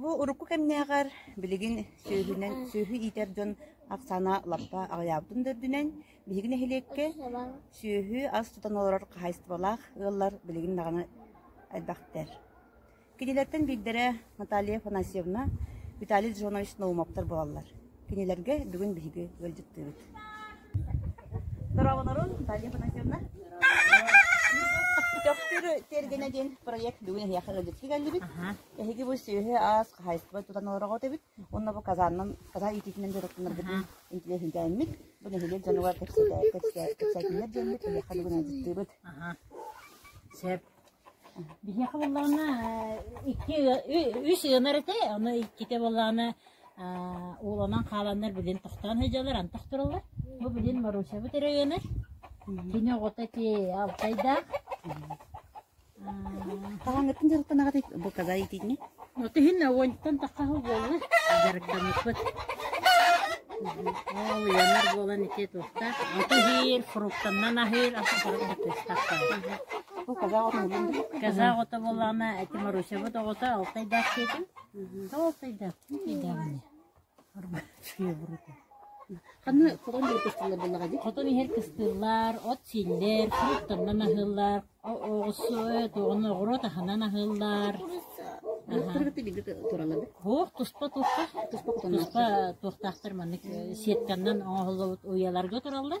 Бу урукку кэмнээҕэр билигин сүөһүнэн сүөһү иитэр дьон ахсаана лаппа аҕыйаабытын да үрдүнэн, биһиги нэһилиэккэ сүөһү ас тутан олорор хаһаайыстыбалаах ыаллар билигин даҕаны элбэхтэр. Кинилэртэн биирдэрэ Наталья Афанасьевна, Виталий Джонович Наумовтар буолаллар. Кинилэргэ бүгүн биһиги ыалдьыттыыбыт. Здорово, Наталья Афанасьевна. Төхтүр тергене диэн проект бүгүн эһиэхэ ыалдьытты келлибит. Эһиги бу сүөһү ас хаһайыстыба тутан олорого өтөбүт. Онно бу Казаннан, Казан иититинэн дьарыктанаргытын интеллигентээммит. Бу нэһилиэк дьонугар кэпсэтэ кэпсэтиннэр диэммит эһиэхэ бүгүн ыалдьыттыыбыт. Сөп. Биһиэхэ буоллаҕына икки үс ыанар этэ, ону иккитэ буоллаҕына ууланан хааланнар билигин тохтоон сылдьаллар, антах тураллар. Бу билигин Марусябыт эрэ ыанар. Кини оҕото ити алтайдаах. Хаһааҥҥыттан дьарыктанаҕытый бу каза етиини? Вот иһин оҕонньоттон тахха буолла дьарыктаммыппыт. Ол ыйанар буолан ити туохта. Ото иһиир, фруктаннан аһыыр, ахтыыстахтар. Казах ото боллана, эти Марусябыт оҕото алтайдаах диэтим. Алтайдаах, тейдаавыне. Хотон иһэр кыстыыллар, от сииллэр, фруктаннан аһыыллар, оҕуруот аһынан аһыыллар. Оһох туспа туспа туспа туохтаахтар маннык сетканнан оҥоһуллубут уйаларга тураллар.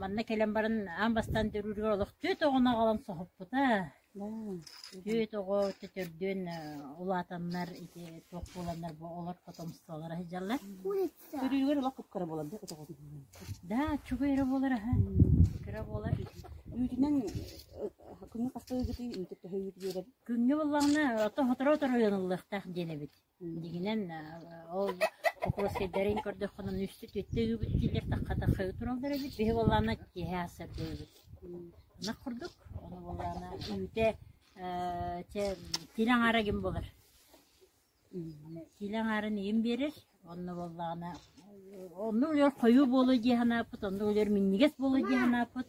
Манна кэлэн баран аан бастаан төрүүрүгэр олох түөрт оҕону аҕалан соһуппута. Түөрт оҕо төтөрдүөн улаатаннар ити туох буоланнар бу олор потомстволара сылдьаллар. Төрүүрүгэр олох кып-кыра буолар да от оҕотун. Да, чугуй эрэ буолар аһа. Кыра буолар. Үүтүнэн күҥҥэ хаста ыгытыы үүтү төһө үүт биэрэр? Күҥҥэ буоллаҕына ото сотору-сотору ыйаныллыахтаах диэн эбит. Дьиҥинэн ол кокосэйдэрин көрдөххүнэ үстэ-түөртэ ыыбыт дииллэр тахха-тахха тураллар эбит биһи буоллаҕына киэһэ сырда ыыбыт ынах курдук ону буоллаҕына үүтэ ээ чэ сиилэ аҥаара ким булар сиилэ аҥаарын ийэм биэрэр онно буоллаҕына онно үлэбэр хойуу буолуо дии санааппыт онно үлэбэр минньигэс буолуо дии санааппыт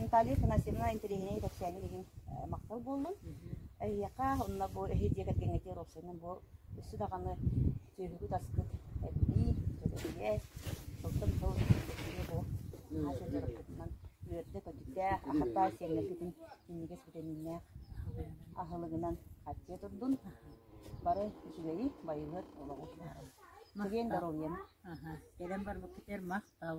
Наталья Афанасьевна интэриэһинэй кэпсээни билин махтал буоллун. Эһиэхэ онно бу эһи дьиэ кэргэҥҥэ тиийэр уопсайынан бу өссө даҕаны сүөһүгүт-аскыт элбии, төлөпүйэ, сылтан сыл төлөпүйэ бу наһаа сир дьарыкпытынан үөрдэ көтүтэ, ахырдаа сиэннэргитин минньигэс битэмииннээх аһылыгынан хаттыа турдун. Бары үчүгэйи, байыһыт олоҕу. Сыгыйын доруобуйаны. Аха. Кэлэн барбыккытыгар махтал.